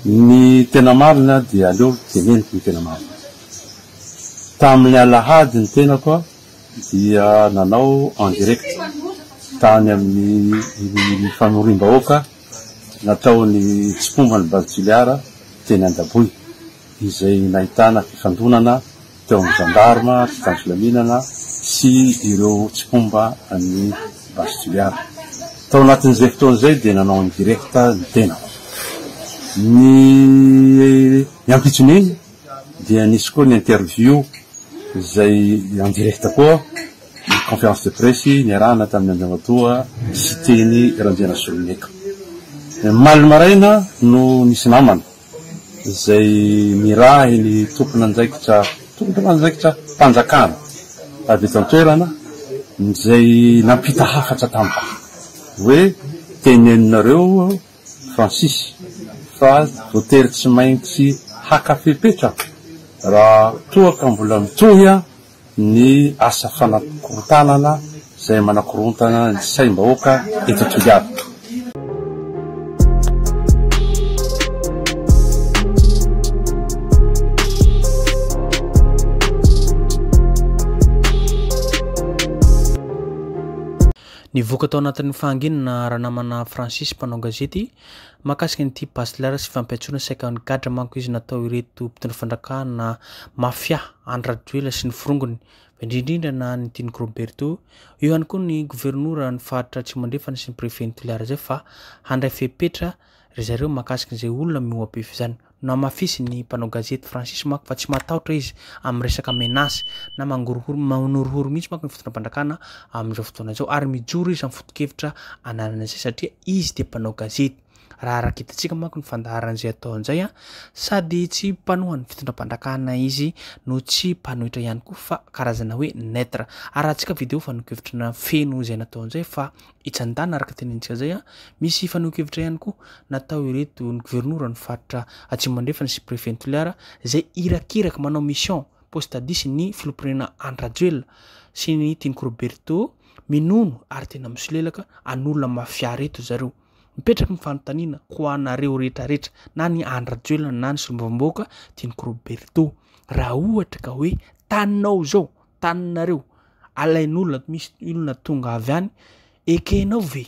Ny tena marina dia aleo teneniko ny tena marina. Tamin'ny alahady ny tenako dia nanao en direct tany amin'ny fanoriam-bahoaka nataon'ny tsikomban'ny Base Toliara teny Andaboy izay nahitana fifandonana teo amin'ny Gendarme, tsy tany filaminana sy ireo tsy mpomba an'i Base Juliana. Tao anatin'izay fotoana izay dia nanao an'i Direct ny tenako. Ny ampitson'iny dia nisy koa ny interview izay en direct koa, ny conférence de presse niarahana tamin'ny Andriamatoa Siteny Randrianasoloniaiko. Omaly maraina no nisy namana. izay nirahin' ny tompon'andraikitra tompon'andraikitra mpanjakana avy eto an-toerana izay nampita hafatra tamiko hoe teneninareo Francis fa voatery tsy maintsy haka fepetra raha toa ka mbola mitohy ny asa fanakorontanana izay manakorontana ny saim-bahoaka eto Toliara. Nivoaka tao anatin'ny fahanginana ranamana Francis mpanao gazety Mahakasika ny tia basilara sy fampiantsoana saika ho an'ny gadra manko izy natao ireto mpitondra fandrakana mafia any Rajoelina sy ny forongony, fa indrindrindra na ny tian'i Groberto, eo ihany koa ny governora ny faritra Atsimo Andrefana sy ny préfet ny Toliara izay fa handray fepetra ry zareo mahakasika izay olona mihoa-pefy izany. Nohamafisin'ny mpanao gazety Francis manko fa tsy matahotra izy amin'ny resaka menace na mangorohoro, manorohoro mihitsy manko ny fitondram-panjakana amin'izao fotoana izao ary mijoro izy amin'ny foto-kevitra ananany izay satria izy dia mpanao gazety, raha araka hitantsika manko ny fandaharan'izay atao an'izay, sady tsy mpanohan'ny fitondram-panjakana izy no tsy mpanohitra ihany koa fa karazana hoe neutre. Arahantsika video fa nokevitrina feno izay natao an'izay fa Ijandana araka tenenintsika zay an, misy fanehoan-kevitra ihany koa natao ireto ny gouvernora ny faritra Atsimo Andrefana sy Préfet ny Toliara izay irakiraky manao mission post tadis ny Filoham-pirenena Andry Rajoelina sy ny Tian'i Koroberto minono ary tena misolelaka an'olona mafia reto zareo. Mipetraka ny fanontaniana ho anareo rehetra rehetra na ny Andry Rajoelina na ny Solombavambahoaka Tian'i Koroberto raha ohatra ka hoe taninao izao taninareo alain'olona misy olona tonga avy any ekenao ve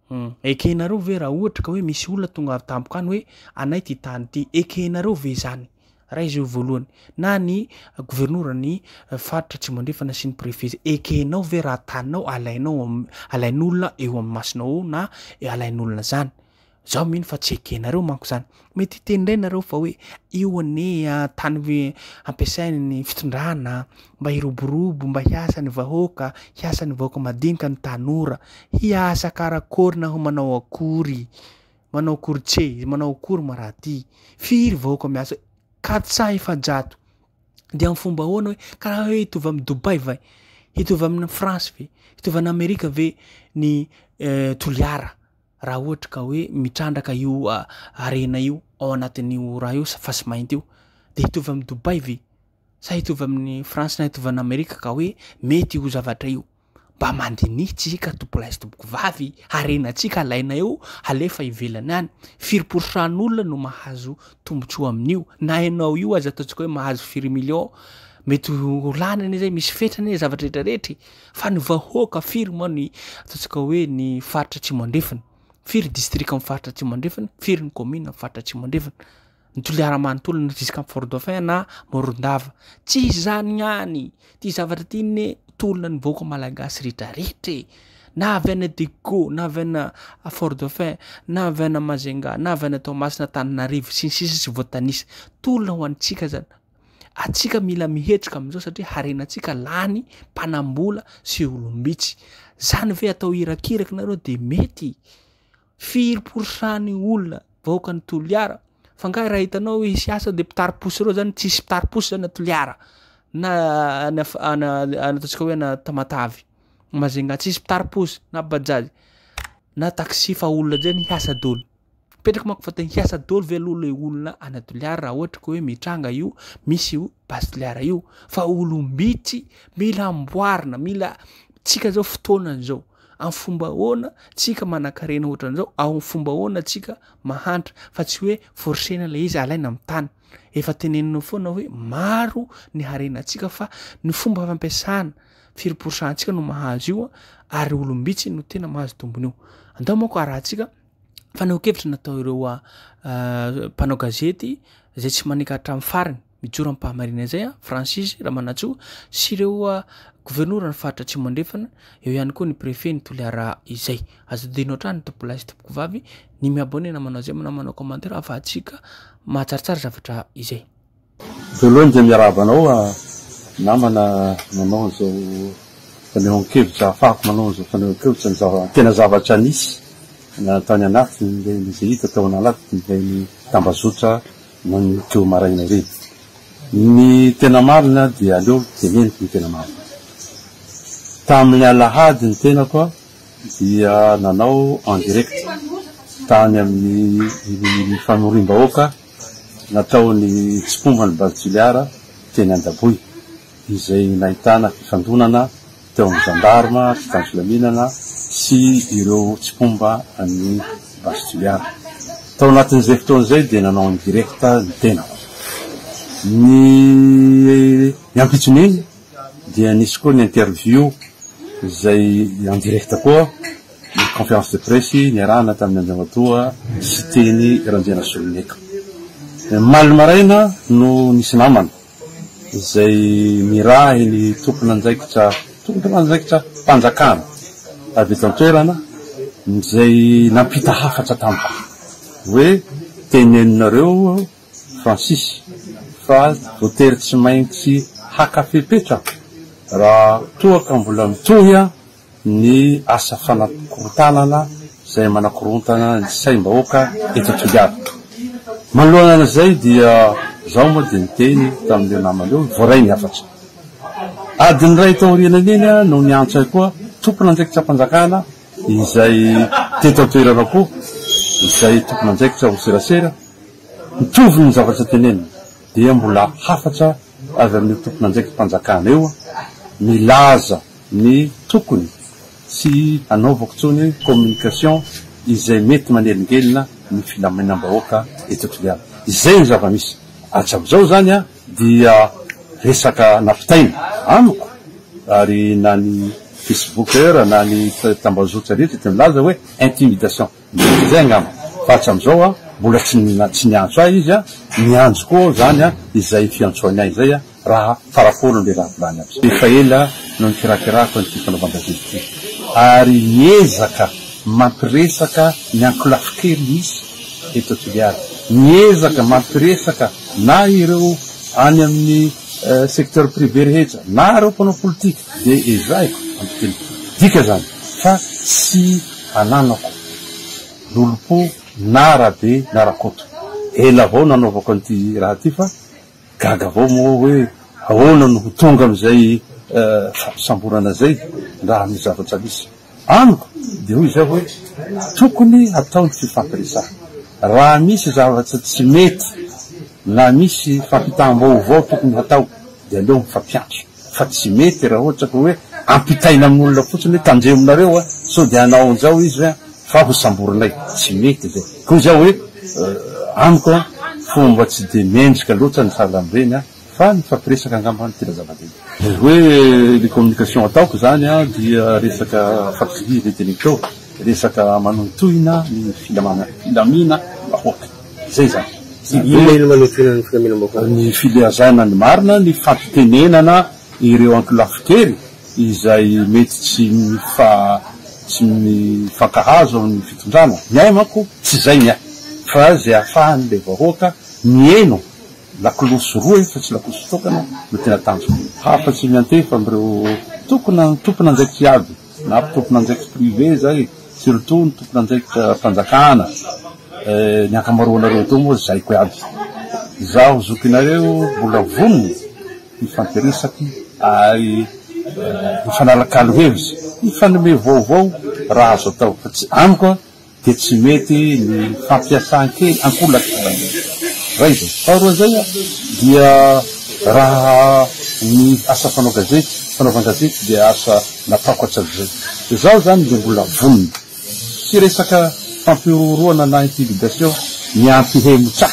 hmm, ekenareo ve raha ohatra ka hoe misy olona tonga avy tampoka any hoe anay ty tany ity ekenareo ve izany raha izy eo voalohany na ny gouvernoura ny eh, faritra tsy mandrefana sy ny prefet ekenao ve raha taninao alainao alain'olona eo amin'ny masinao na alain'olona zany Zaho mino fa tsy ekenareo manko zany. Mety hiteny indray nareo fa hoe io anie tany hampiasain'ny fitondrana mba hiroborobo, mba hiasa ny vahoaka, hiasa ny vahoaka madinika ny tanora. Hiasa karakôry na ho manao akôry? Manao akôry tse? Manao akôry ma raha ty? Firy vahoaka miasa? Katsa efajato. Dia amin'ny fomba ahoana hoe karaha hoe hitovy amin'ny Dubai va? Hitovy amin'ny France ve? Hitovy an'Amerika ve ny Toliara? raha ohatra ka hoe mitrandraka io harena io ao anatin'io raha io fasimainty io dia hitovy amin'i Dubai ve? Sa hitovy amin'i France na hitovy an'Amerika ka hoe mety io zavatra io? Mba mandinihy tsika tompolahy sy tompokovavy, harenantsika alaina eo halefa ivelany any, firy pourcent olona no mahazo tombontsoa amin'io? Na ianao io aza ataontsika hoe mahazo firy million, mety ho lany anie zay, misy fetrany anie zavatra rehetra rehetra e! Fa ny vahoaka firy moa ny ataontsika hoe ny faritra atsimo andrefana? Firy distrika amin'ny faritra atsimo andrefana? Firy ny kaominina amin'ny faritra atsimo andrefana? Ny toliara manontolo na jusqu'à Fort Dauphin na Morondava. Tsy izany ihany, ity zavatra ity anie tolona ny vahoaka malagasy rehetrarehetra e! na avy any Adecco, na avy any Fort Dauphin, na avy any Majunga, na avy any Toamasina, Antananarivo sy ny sisa tsy voatanisa. Tolona ho antsika izany. Atsika mila mihetrika amin'izao satria harenantsika lany mpanambola sy olom-bitsy. Zany ve atao irakiraky nareo de mety? Firy pourcent ny olona vahoakan'ny Toliara? Fa ngahy raha hitanao hoe hisy asa de mpitari-posy reo zany tsisy mpitari-posy zany a Toliara na any af- ana- ana- ataontsika hoe ana Tamatave, Majunga tsisy mpitari-posy na bajaj na taxi fa olona zay ny hiasa doly. Mipetraka manko fa te hiasa daholo ve aloha ilay olona any Toliara raha ohatra ka hoe mitranga io, misy io base Toliara io fa olom-bitsy mila amboarina, mila tsika izao fotoana izao amin'ny fomba ahoana tsika manan-karena ohatran'izao, amin'ny fomba ahoana tsika mahantra fa tsy hoe forcena ilay izy alaina amin'ny tany. Efa tenenina foana hoe maro ny harenantsika fa ny fomba fampiasana firy pourcent-ntsika no mahazo io ary olom-bitsy no tena mahazo tombony io. Andao manko arahantsika fanehoan-kevitra natao ireo mpanao gazety izay tsy maneka hatramin'ny farany, mijoro amim-pahamarinana izay, Francis Ramanantsoa sy ireo governoran'ny faritra Atsimo Andrefana, eo ihany koa ny préfet ny Toliara izay. Aza adino hatrany tompoko lahy sy tompoko vavy ny mi-abonner na manao j'aime na manao commentaire ahafahantsika mahatsaratsara zavatra izay. Voalohany dia miarahaba anao namana nanao an'izao fanehoan-kevitra ahafahako manao an'izao fanehoan-kevitra ny zava tena zavatra nisy tany anatiny dia izay hita tao anatiny dia ny tambazotra nanio teo maraina ireny. Ny tena marina dia aleo teneniko ny tena marina. Tamin'ny alahady ny tenako dia nanao en direct tany amin'ny famoriam-bahoaka Nataony tsy mpomba ny base Toliara teny Andaboy, izay nahitana fifandonana teo amin'ny Gendarme, mpitan'ny filaminana sy ireo tsy mpomba ny base Toliara. Tao anatin'izay fotoana izay dia nanao indirecte ny tenako. Ny ampitson'iny dia nisy koa ny interview izay en direct koa. Ny conférence de presse niarahana tamin'ny Andriamatoa Siteny Randrianasoloniaiko. Omaly maraina no nisy namana izay nirahy ny tompon'andraikitra tompon'andraikitra mpanjakana avy eto an-toerana izay nampita hafatra tamiko hoe teneninareo Francis fa voatery tsy maintsy haka fepetra raha toa ka mbola mitohy ny asa fanakorontanana izay manakorontana ny saim-bahoaka eto Toliara. Manoloana izay dia izaho moa dia niteny tamin'ireo namana ireo, voaray ny hafatra. Adiny iray taoriana iny no niantso ahy koa tompon'andraikitr'am-panjakana izay teto an-toerana koa, izay tompon'andraikitra ho serasera, mitovy ny zavatra teneniny, dia mbola hafatra avy amin'io tompon'andraikitr'am-panjakana io milaza, ny tokony tsy hanaovako intsony communication izay mety manelingelina ny filaminam-bahoaka eto Toliara. Izay no zava-misy. Hatramizao izany dia resaka navitaina amiko ary na ny Facebooker na ny tambazotra rehetra dia milaza hoe intimidation. Mety izay angamba, fa hatramizao mbola tsy niantso ahy izy, miandry koa aho izany izay fiantsoany ahy izay raha fara foana ilay raha volany azy. Efa ela no nikirakirako an'ity fanaovan-gazety ity, ary miezaka mampiresaka ny ankolafy kely misy eto Toliara, miezaka mampiresaka na ireo any amin'ny secteur privé rehetra, na ireo mpanao politika. dia ezahiko ampitelin-ko dika izany fa tsy ananako lolompo na rabe na rakoto. Ela avao nanaovako an'ity raha ity fa gaga avao moa hoe ahoana no ho tonga amin'izay fampisamborana izay raha misy zavatra misy amiko dia hoy izaho hoe tokony hatao ny fifampiresahana raha misy zavatra tsy mety na misy fampitam-baovao tokony hatao dia aleo mifampiantso. Fa tsy mety raha ohatra ka hoe ampitaina amin'ny olona fotsiny hoe tandremo nareo a, sao dia hanao an'izao izy a, fa ho samborinay. Tsy mety izay. Koa izaho hoe amiko a, fomba tsy dia mendrika loatra ny fahalalobeny a, fa ny mifampiresaka angamba no tena zava-dehibe. Ny hoe ny communication ataoko izany a, dia resaka fampidirana eny an-teleko eo, resaka manohintohina ny filamina, filamina vahoaka. Zay zany. Inona no manekoina ny filaminam-baovao? Ny filazana ny marina, ny fampitenenana ireo ankolafin-kery izay mety tsy mifankahazo amin'ny fitondrana. Ny ahy manko tsy izay ny ahy fa izay ahafahan'ilay vahoaka mihaino lakolosy roa efa tsy lakolosy tokana no tena tanjoko. Hafa tsy miantefa amin'ireo tompon'andraikitra iaby. Na tompon'andraikitra privé izay, surtout ny tompon'andraikitra fanjakana, eh, ny ankamaroanareo eto moa zaiko iaby. Izaho zokinareo mbola vonona hifampiresaky ary eh, hifanalakalo hevitra, hifanome vaovao raha azo atao, fa tsy amiko an! dia tsy mety ny fampiasan-kely ankolaka iray izay. Faharoa izay dia raha ny asa mpanao gazety, fanaovan-gazety dia asa nataoko hatrizay. Izaho izany dia mbola vonona. Tsy resaka fampihorohoroana na intimidation ny ampihemotsa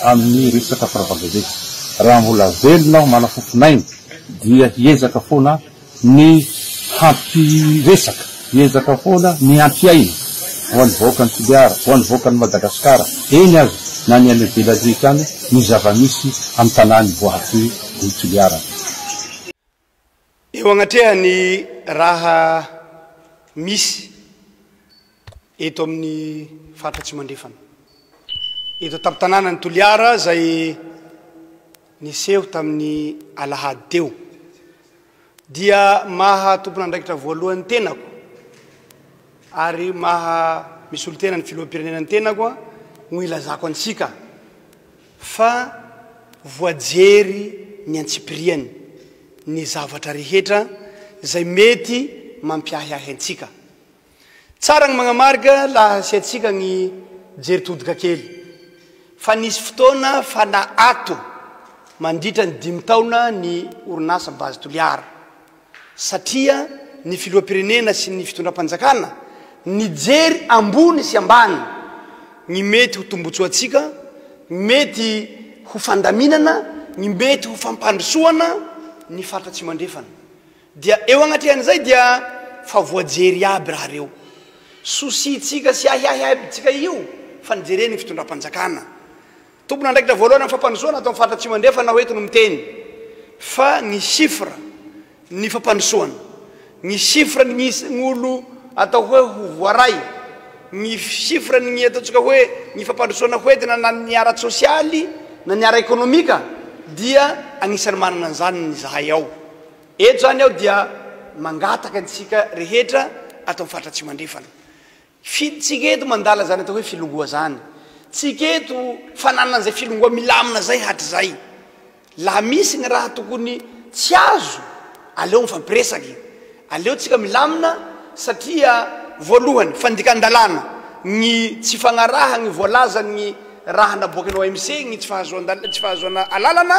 amin'ny resaka fanaovan-gazety. Raha mbola velona aho, manam-pofon'aina dia hiezaka foana. ny hampiresaka, hiezaka foana ny hampiaino ho an'ny vahoakan'i Toliara, ho an'ny vahoakan'i Madagasikara, eny aza na ny any ivelany rehetra any, ny zava-misy amin'ny tanàny voahakoy ny Toliara. Eo agnatrehan'ny raha misy. eto amin'ny faritra Atsimandrefana, eto an-tampon-tanànan'i Toliara izay niseho tamin'ny alahady teo, dia maha tompon'andraikitra voalohany tenako ary maha misolotena ny filoham-pirenena ny tenako no ilazako antsika fa voajery ny antsipiriany ny zavatra rehetra izay mety mampiahiahy antsika. Tsara ny magnamarga laha asiantsika ny jery todika kely fa nisy fotoana fana ato mandritra ny dimy taona ny orinasa Base Toliara satria ny filohampirenena sy ny fitondram-panjakana nijery ambony sy ambany ny mety ho tombotsoantsika, ny mety ho fandaminana, ny mety ho fampandrosoana ny faritra Atsimandrefana. Dia eo agnatrehan'izay dia fa voajery iaby raha reo. Souci tsika sy ahiahiaby tsika io fa nijere ny fitondram-panjakana. Tompon'andraikitra voalohany amin'ny fampandrosoana ato amin'ny faritra Atsimo Andrefana aho eto no miteny fa ny chiffre ny fampandrosoana, ny chiffre ny isan'olo atao hoe ho voaray, ny chiffre ny ataontsika hoe ny fampandrosoana ho entina na ny ara-tsosialy na ny ara-ekonomika dia agnisan'ny manana an'izany ny zahay ao. Eto izany aho dia mangataka antsika rehetra ato amin'ny faritra Atsimo Andrefana. Fi, tsika eto mandala izany atao hoe filongoa izany. Tsika eto fananana izay filongoa milamina izay hatrizay. Laha misy ny raha tokony tsy azo, aleo mifampiresaka e. Aleo tsika milamina satria voalohany fandikan-dalàna ny tsy fagnarahagny voalazan'ny raha naboaky ny OMC, ny tsy fahazoan-dal, tsy fahazoana alalana,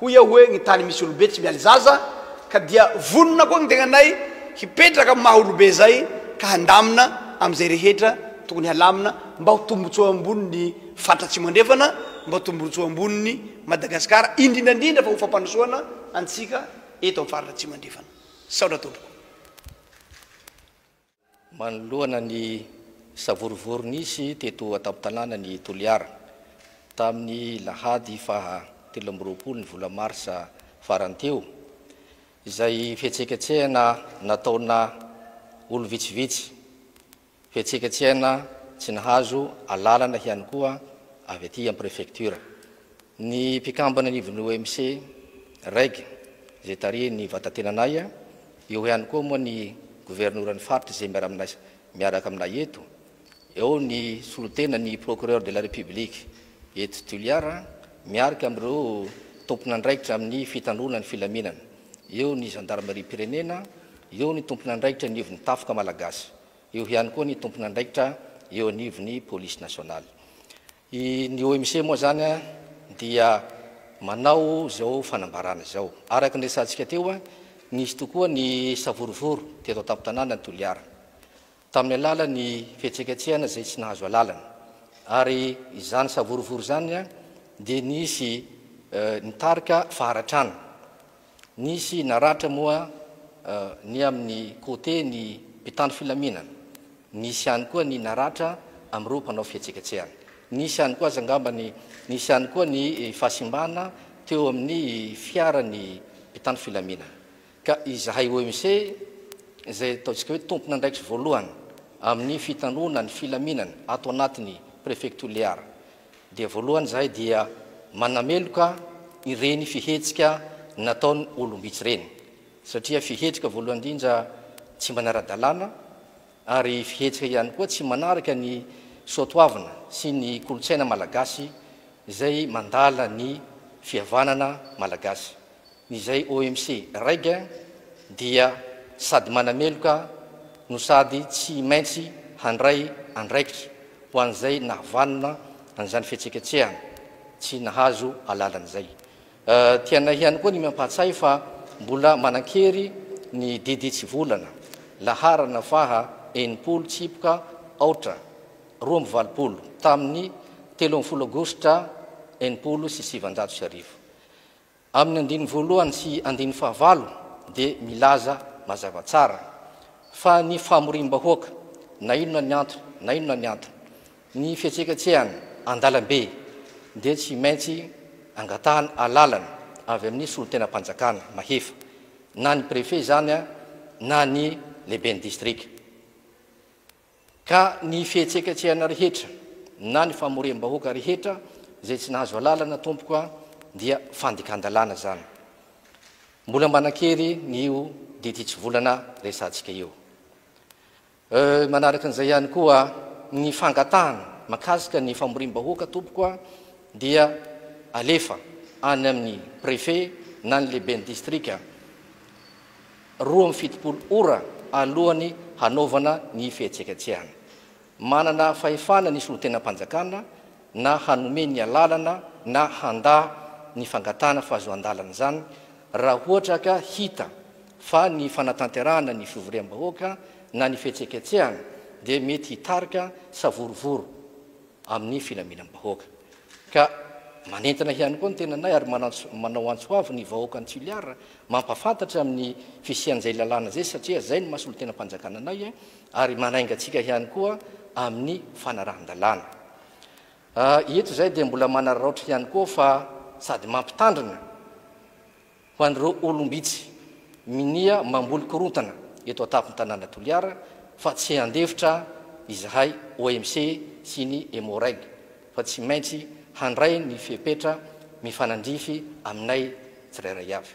Hoy aho hoe ny tany misy olobe tsy mialy zaza ka dia vonona koa ny tenanay hipetraka amin'ny maha olobe izay ka handamina amin'izay rehetra tokony halamina mba ho tombotsoa ambonin'ny faritra Atsimo Andrefana, mba ho tombotsoa ambonin'i Madagasikara, indrindra indrindra fa ho fampandrosoana antsika eto amin'ny faritra Atsimo Andrefana. Misaotra tompoko. Manoloana ny savorovoro nisy teto an-tampon-tanàna ny Toliara, tamin'ny lahady faha telo amby roapolo ny vola marsa farany teo, izay fihetseketsehana nataona olo vitsivitsy, fihetseketsehana tsy nahazo alalana ihany koa avy aty amin'ny prefektiora, ny mpikambana anivon'ny OMC, reg, izay tarihin'ny Vatatenanay, Eo ihany koa moa ny governoran'ny faritra izay miaraka aminay eto, eo ny solontenan'ny Procureur de la République eto Toliara miarka amin'ireo tompon'andraikitra amin'ny fitandroana ny filaminana, eo ny zandarimariam-pirenena, eo ny tompon'andraikitra anivon'ny Tafika Malagasy, eo ihany koa ny tompon'andraikitra eo anivon'ny Police Nationale. I ny OMC moa izany dia manao izao fanambarana izao. Araka ny resahantsika teo, nisy tokoa ny savorovoro teto an-tampon-tanànan'i Toliara, tamin'ny alalan'ny fihetseketsehana izay tsy nahazo alalana. Ary izany savorovoro izany dia nisy nitarika faharatrana. Nisy naratra moa ny amin'ny côté ny mpitandro filaminana, nisy ihany koa ny naratra amin'ireo mpanao fihetseketsehana. Nisy ihany koa aza angamba ny nisy ihany koa ny fahasimbana teo amin'ny fiaran'ny mpitandro filaminana. Ka izahay OMC izay ataontsika hoe tompon'andraikitry voalohany amin'ny fitandroana ny filaminana ato anatin'ny Prefecture Lear, dia voalohany izahay dia manameloka ireny fihetsika nataon'ny olom-bitsy ireny satria fihetsika voalohany indrindra tsy manara-dalàna ary fihetsika ihany koa tsy manaraka ny soatoavina sy ny kolontsaina malagasy izay mandala ny fihavanana malagasy. Izay OMC Reggae dia sady manameloka no sady tsy maintsy handray andraikitra ho an'izay nahavanona an'izany fihetseketsehana tsy nahazo alalana izay. Tianay ihany koa ny mampahatsiahy fa mbola manan-kery ny Didy Tsivolana, laharana faha enimpolo tsipoka aotra roa amby valopolo, tamin'ny telo ambin'ny folo Aogositra enimpolo sy sivinjato sy arivo. Amin'ny andininy voalohany sy andininy fahavalo dia milaza mazava tsara fa ny famoriam-bahoaka, na inona ny antony na inona ny antony, ny fihetseketsehana an-dalambe dia tsy maintsy angatahana alalana avy amin'ny solontenam-panjakana mahefa, na ny Préfet izany na ny Lehiben'ny Distrika. Ka ny fihetseketsehana rehetra na ny famoriam-bahoaka rehetra izay tsy nahazo alalana tompoko a, dia fandikan-dalàna izany. Mbola manan-kery ny io ditin-tsivolana resahantsika io. Euh, manaraka an'izay ihany koa ny fangatahana mahakasika ny famoriam-bahoaka tompoko a, dia alefa any amin'ny préfet na ny lehiben'ny distrika. roa amby fitopolo ora alohan'ny hanaovana ny fihetsiketsehana. Manana fahefana ny solontenam-panjakana na hanome ny alalana na handà ny fangatahana fahazoan-dalana izany raha ohatra ka hita fa ny fanatanterahana ny fivoriam-bahoaka na ny fihetsiketsehana dia mety hitarika savorovoro amin'ny filaminam-bahoaka. Ka manentana ihany koa ny tenanay ary manao antso avo ny vahoakan'i Toliara mampahafantatra amin'ny fisian'izay lalàna izay satria izay no maha solontenam-panjakana anay ary manainga antsika ihany koa amin'ny fanarahan-dalàna. Eto izahay dia mbola manararaotra ihany koa fa sady mampitandrina, Ho an'ireo olom-bitsy minia mamboly korontana eto an-tampon'ny tanàna Toliara fa tsy handefitra izahay OMC sy ny Emmo-Reg fa tsy maintsy handray ny fepetra mifanandrify aminay tsirairay avy.